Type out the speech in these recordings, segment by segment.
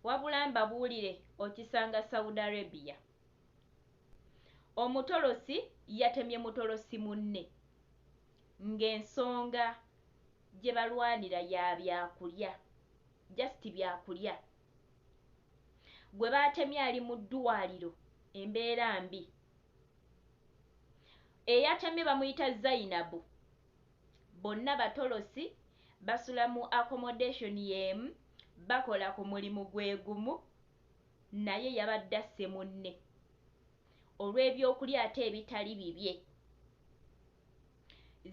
Wabula mbabuulire okisanga Saudi Arabia. Omutolosi yatemye mutolosi munne ng'ensonga gye balwanira ya byakulya, just byakulya. Gwe baatemye ali mu ddwaaliro embeera mbi. Eyatemye bamuyita Zainabu Bonna batolosi, basula mu accommodation y'emu, bakola ku mulimu gwe gumu naye yabadde asse munne olw'ebyokulya ate ebitali bibye.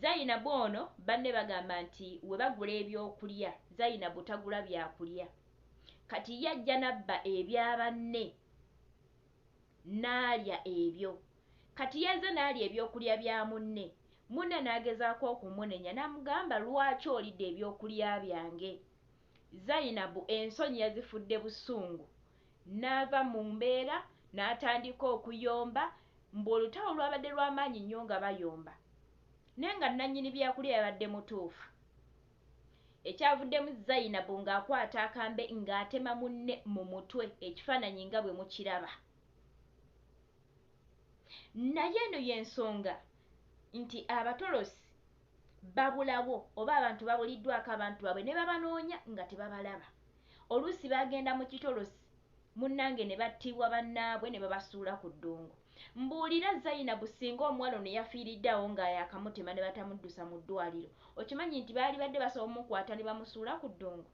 Zainabu ono banne bagamba nti we bagula ebyokulya, Zainabu tagula byakulya kati ye ajja n'abba ebya banne. n'alya ebyo. Kati yazze n'alya ebyokulya bya munne, munne n'agezaako okumunenya n'amugamba, lwaki olidde ebyokulya byange? Zainabu ensonyi yazifudde busungu n'ava mu mbeera n'atandika okuyomba, mbu olutalo lwabadde lwa maanyi nnyo nga bayomba naye nga nnannyini byakulya yabadde mutuufu Ekyavuddemu Zainabu ng'akwata akambe ng'atema munne mu mutwe, ekifaananyi nga bwe mukiraba. Naye eno y'ensonga nti abatolosi babulawo oba abantu babuliddwako abantu baabwe ne babanoonya nga tebabalaba. Oluusi bagenda mu kitolosi munange ne battibwa bannaabwe ne babasuula ku ddungu. Mbuulira Zainabu ssinga omuwala ono yafiiridde awo nga yaakamutema ne batamuddusa mu ddwaaliro, okimanyi nti baalibadde basobola omukwata ne bamusuula ku ddungu?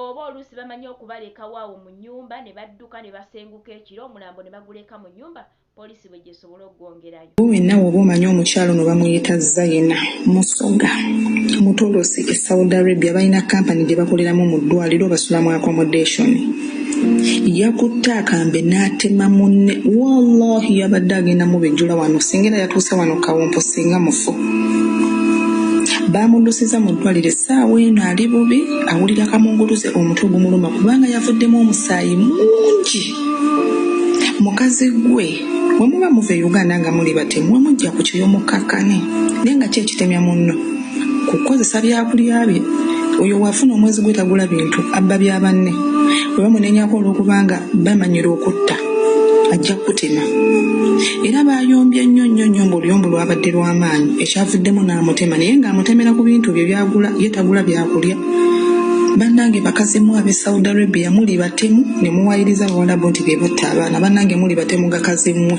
Oba oluusi bamanyi okubalekawo awo mu nnyumba ne badduka ne basenguka ekiro omulambo ne baguleka mu nnyumba poliisi bwe gy'esobola okugwongerayo. Wenna w'oba omanyi omukyala ono bamuyita Zaina Musoga Mutolosi e Saudi Arabia balina kkampani gye bakoleramu mu ddwaaliro basula mu accommodation yakutte akambe n'atema munne wallahi yabadde agenda mubejjula wano singa era yatuuse wano kawompo singa mufu baamuddusizza mu ddwaaliro essaawa eno ali bubi awulira kamunguluze omutwe gumuluma kubanga yavuddemu omusaayi mungi mukazi gwe wemuba muva e uganda nga muli batemu wemujja ku kyoyo mukkakkane naye nga ki ekitemya munno ku kukozesa byakulya bye oyo waafuna omwezi gwe tagula bintu abba bya banne bwe bamunenyako olw'okubanga bamanyira okutta ajja kukutema era baayombye nnyo nnyo nnyo ng'oluyombo lwabadde lw'amaanyi ekyavuddemu n'amutema naye ng'amutemera ku bintu bye byagula ye tagula byakulya bannange bakazimu ab'e saudi arabia muli batemu ne muwayiriza abawalabu nti be batta abaana bannange muli batemu gakazi mmwe.